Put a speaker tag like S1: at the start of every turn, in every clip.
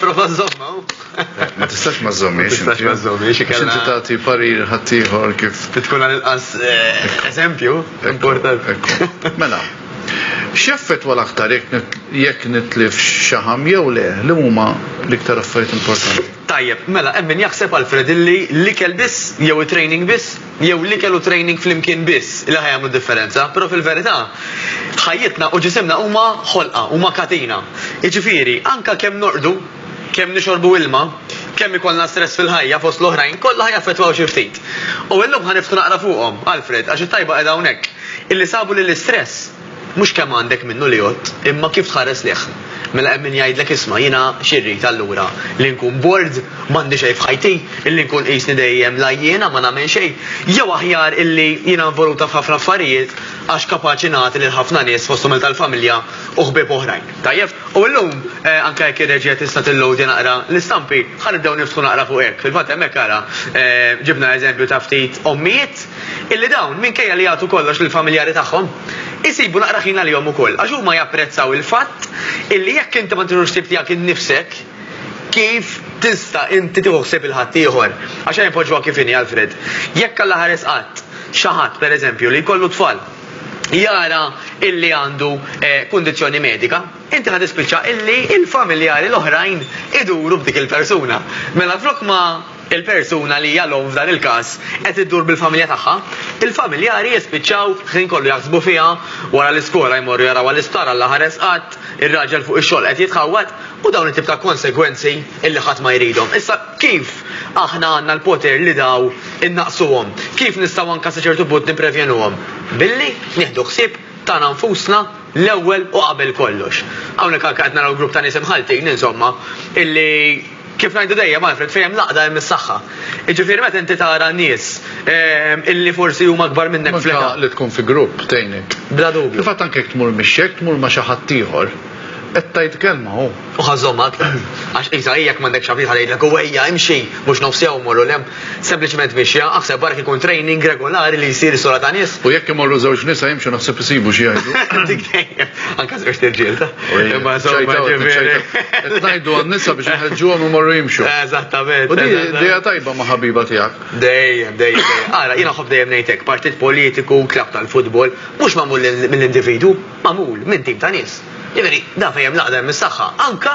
S1: Prova
S2: żomma. Ma tistax
S1: ma żommiex. Ma tistax ma żommiex.
S2: Inti tagħti parir
S1: ħaddieħor kif. Tkun għal inqas
S2: eh, eżempju importanti. Mela.
S1: X'effett wara aktar jekk nitlif xaħam jew le li huma l-iktar affarijiet importanti? Tajjeb, mela hemm
S2: min jaħseb Alfred illi l-ikel biss jew it-training biss jew l-ikel u training flimkien biss li ħa jagħmlu d-differenza, però fil-verità, ħajjitna u ġisimna huma ħolqa, huma katina. Jiġifieri, anke kemm norqdu, kemm nixorbu ilma, kemm ikollna stress fil-ħajja, fost l-oħrajn, kollha ħa jaffettwaw xi ftit. U illum ħa niftħu naqra fuqhom, Alfred, għax it-tajba qiegħda hawnhekk, illi sabu li l-istress, Mhux kemm għandek minnu li għodt, imma kif tħares lejh. Mela hemm min jgħidlek isma' jiena xi rrid allura, li nkun bored, m'għandi xejn f'ħajti, illi nkun qisni dejjem l-għajjiena ma nagħmel xejn, jew aħjar illi jiena involuta f'ħafna affarijiet għax kapaċi nagħti lil ħafna nies fosthom il-tal-familja u ħbieb oħrajn. Tajjeb, u llum, anke jekk ir-reġija tista' tillowdja naqra l-istampi, ħa nibdew niftħu naqra fuq hekk. Fil-fatt hemmhekk ara, ġibna eżempju ta' ftit ommijiet, illi dawn, minkejja li jagħtu kollox lill-familjari tagħhom, isibu naqra ħin għalihom ukoll, għax huma japprezzaw il-fatt illi jekk inti ma tiħux ħsieb tiegħek innifsek, kif tista' inti tieħu ħsieb il-ħaddieħor? Għax ejja npoġġuha kif inhi, Alfred. Jekk Alla ħares qatt xi ħadd, pereżempju, li jkollu t-tfal, jara illi għandu kundizzjoni medika, inti ħa tispiċċa illi l-familjari l-oħrajn iduru b'dik il-persuna. Mela flok ma. il-persuna li hija l-omm f'dan il-każ qed iddur bil-familja tagħha, il-familjari jispiċċaw ħin kollu jaħsbu fiha, wara l-iskola jmorru jarawha l-isptar Alla ħares qatt, ir-raġel fuq ix-xogħol qed jitħawwad u dawn it-tip ta' konsegwenzi illi ħadd ma jridhom. Issa kif aħna għandna l-poter li daw innaqqsuhom? Kif nistgħu anke sa ċertu punt nipprevjenuhom? Billi nieħdu ħsieb tagħna nfusna l-ewwel u qabel kollox. Hawnhekk anke qed naraw grupp ta' nies imħalltin insomma illi Kif ngħidu dejjem, Alfred, fejn hemm l-għaqda hemm is-saħħa. Jiġifieri meta inti tara nies illi forsi huma akbar minnek fl-età. Anke li tkun fi grupp
S1: tgħinek. Bla dubju. Fil-fatt anke
S2: jekk tmur mixi, jekk
S1: tmur ma' xi ħadd ieħor, qed tgħid kelma hu. Hu ħa żżommha aktar.
S2: Għax qisha hi jekk m'għandekx ħabib ħa tgħidlek hu ejja imxi, mhux nofs jawm morru 'l hemm. Sempliċement mixja, aħseb barra kikun training regolari li jsir is-sura ta' nies. U jekk imorru żewġ nisa
S1: jimxu naħseb isibu xi jgħidu. Dik dejjem.
S2: Anke żewġ tirġiel ta'. Imma żewġ ġifieri. Ngħidu
S1: għan-nisa biex inħeġġuhom imorru jimxu. Eżattament. U din idea
S2: tajba
S1: ma' ħabiba tiegħek. Dejjem, dejjem.
S2: Ara, jiena ħobb dejjem ngħidlek, partit politiku, klabb tal-futbol, mhux magħmul mill-individwu, magħmul minn tim ta' nies. Ġifieri, dan fejn hemm l-għaqda hemm is-saħħa. Anke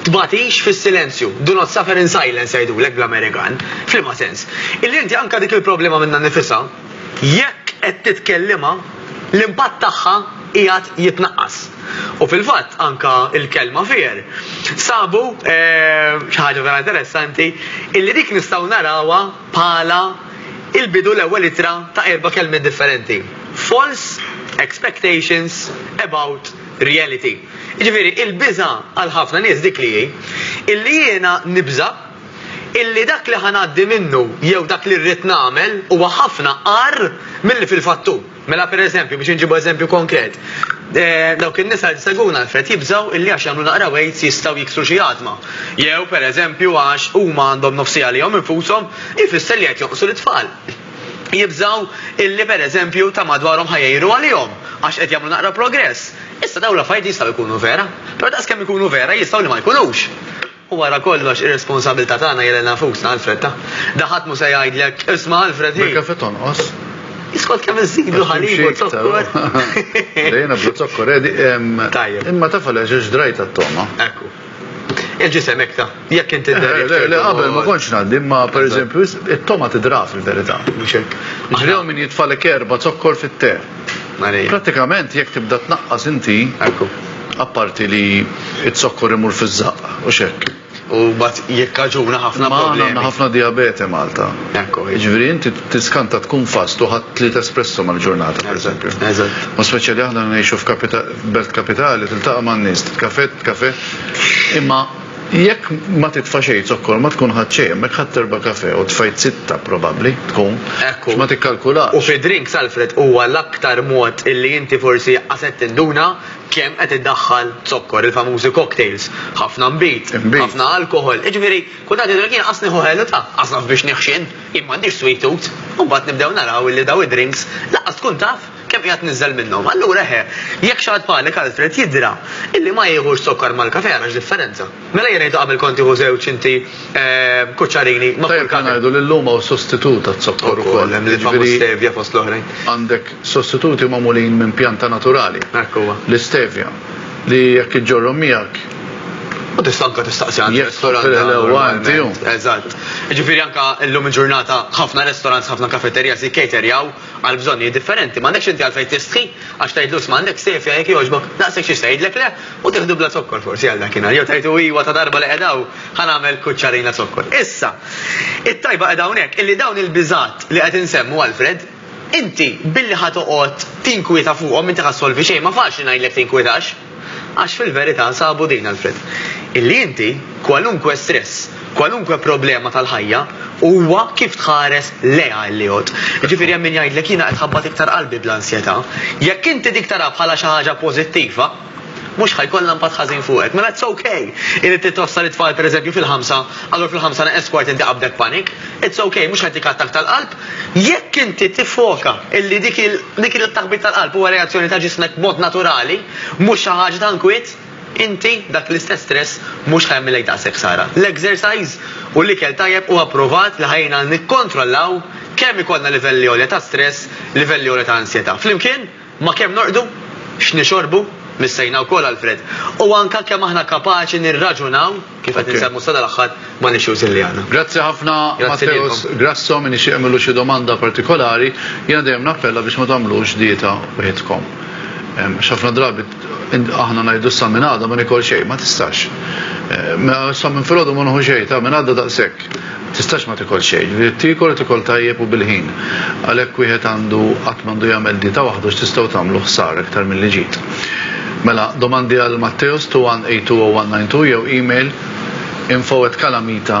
S2: Tbagħtix fis-silenzju, do not suffer in silence jgħidulek bl-Amerikan. F'liema sens? Illi inti anke dik il-problema minnha nnifisha, jekk qed titkellimha, l-impatt tagħha qiegħed jitnaqqas. U fil-fatt anke l-kelma fear sabu xi ħaġa vera interessanti illi dik nistgħu narawha bħala il-bidu l-ewwel ittra ta' erba' kelmiet differenti, false expectations about reality. Jiġifieri il-biża' għal ħafna nies dik li hi, illi jiena nibża' illi dak li ħa ngħaddi minnu jew dak li rrid nagħmel huwa ħafna agħar milli fil-fatt hu. Mela pereżempju, biex inġibu eżempju konkret, dawk in-nisa li jsegwuna Alfred jibżgħu illi għax jagħmlu naqra weights jistgħu jiksru xi għadma. Jew pereżempju għax huma għandhom nofsija għalihom infushom ifisser li qed jonqsu lit-tfal. jibżgħu illi pereżempju ta' madwarhom ħa jgħiru għalihom għax qed jagħmlu naqra progress. Issa dawn l-affarijiet jistgħu jkunu vera, però daqskemm ikunu vera jistgħu li ma jkunux. U wara kollox ir-responsabilità tagħna hija lilna nfusna Alfred ta. Da ħadd mhu se jgħidlek, isma' Alfred hi. Bil-kafe tonqos.
S1: Iskont kemm
S2: iżidu ħalib u zokkor. Dejna
S1: bla zokkor, Tajjeb. Imma taf għaliex ġrajt għat-toma. Ekku.
S2: Il-ġisem hekk ta. Jekk inti dderriet. Le, le, qabel ma
S1: kontx ngħaddi, imma pereżempju it-toma tidra fil-verità. Mhux hekk. Ġrew min jitfalek erba' zokkor fit-te. Prattikament jekk tibda tnaqqas inti, apparti li z-zokkor imur fiż-żaqq, hux hekk? U mbagħad
S2: jikkaġuna ħafna problemi. Imma aħna għandna ħafna dijabete
S1: Malta. Ekku hi. Jiġifieri inti tiskanta tkun fast u ħadt tliet espresso mal-ġurnata pereżempju. Eżatt. U speċjali aħna ngħixu f'kapital. Belt kapitali tiltaqa' man-nies, titkafè, titkafè, imma jekk ma titfa' xejn zokkor ma tkun ħadt xejn, hemmhekk ħadt erba' kafè u tfajt sitta probabbli tkun, għax ma tikkalkulax.
S2: U fi
S1: drink salfred
S2: huwa l-aktar mod illi inti forsi qas qed tinduna kemm qed iddaħħal zokkor, il-famużi cocktails, ħafna nbid, ħafna alkoħol, jiġifieri kultant jgħidulek jien qas nieħu ħelu ta', qas naf biex nieħu x'inhu, jien m'għandix sweet tooth, u mbagħad nibdew naraw illi dawn id-drinks lanqas tkun taf Kemm qiegħed niżżel minnhom. Allura eħe, jekk xi ħadd bħalek Alfred jidhra illi ma jiehux zokkar mal-kafè ara x'differenza. Mela jien ngħidlu qabel kont tieħu żewġ inti kuċċarini ma' kull kafè. Tajjeb li ngħidu li llum hawn
S1: sostitut għaz-zokkor ukoll. Ukoll hemm il-famuż stevia
S2: fost l-oħrajn. Għandek sostituti
S1: magħmulin minn pjanta naturali. Hekk huwa. L-istevia li jekk iġġorrhom miegħek. U tista'
S2: anke tistaqsi għand ristorant. Jekk tfirħilha
S1: huwa
S2: inti hu.
S1: Eżatt.
S2: Jiġifieri anke llum il-ġurnata ħafna restaurants, ħafna kafeterijas jikkaterjaw. għal bżonnijiet differenti, m'għandekx inti għalfejn tistħi għax tgħidlu 'sma' għandek sejf jgħid jekk jogħġbok, daqshekk xi se jgħidlek le u tieħdu bla zokkor forsi għal dakinhar, jew tgħidlu 'iwa ta' darba li qiegħda hawn ħa nagħmel kuċċarina zokkor. Issa, it-tajba qiegħda hawnhekk illi dawn il-biżgħat li qed insemmu, Alfred, inti billi ħa toqgħod tinkwieta fuqhom inti ħa ssolvi xejn, ma faċli ngħidlek tinkwietax. Għax fil-verità sabu din, Alfred, illi inti, kwalunkwe stress, kwalunkwe problema tal-ħajja, huwa kif tħares lejha illi jgħodd. Jiġifieri hemm min jgħidlek jiena qed ħabbat iktar qalbi bl-ansjetà. Jekk inti dik tarha bħala xi ħaġa pożittiva, mhux ħa jkollha impatt ħażin fuqek. Mela it's ok illi trid twassal it-tfal pereżempju fil-ħamsa, allura fil-ħamsa neqes kwart inti qabdek panic. It's ok, mhux ħa jtik attakk tal-qalb. Jekk inti tiffoka li dik kienet it-taħbit tal-qalb huwa reazzjoni ta' ġismek b'mod naturali, mhux xi ħaġa ta' nkwiet, inti, dak l-istess stress mhux ħa jagħmillek daqshekk ħsara. L-exercise u l-ikel tajjeb huwa pprovat li ħa jgħinna nikkontrollaw kemm ikollna livelli għolja ta' stress, livelli għolja ta' ansjetà. Flimkien? Ma' kemm norqdu, x'nixorbu, missejna wkoll għall-fred, u anke kemm aħna kapaċi nirraġunaw kif qed insemmu sadal-aħħar mal-issues illi għandna. Grazzi ħafna
S1: Matteus Grasso, min ixtieq jagħmillu xi domanda partikolari, jiena dejjem nappella biex ma tagħmlux dieta waħidkom. Għax ħafna drabi aħna ngħidu sa minn għada ma nikol xejn, ma tistax. Sa minn filgħodu ma nieħu xejn, ta' minn għada daqshekk. Tistax ma tikol xejn. Irid tiekol u tiekol tajjeb u bil-ħin. Għalhekk wieħed għandu qatt m'għandu jagħmel dieta waħdu għax tistgħu tagħmlu ħsara iktar milli ġid. Mela, domandi għal Matteos 2182092 jew email info@calamita.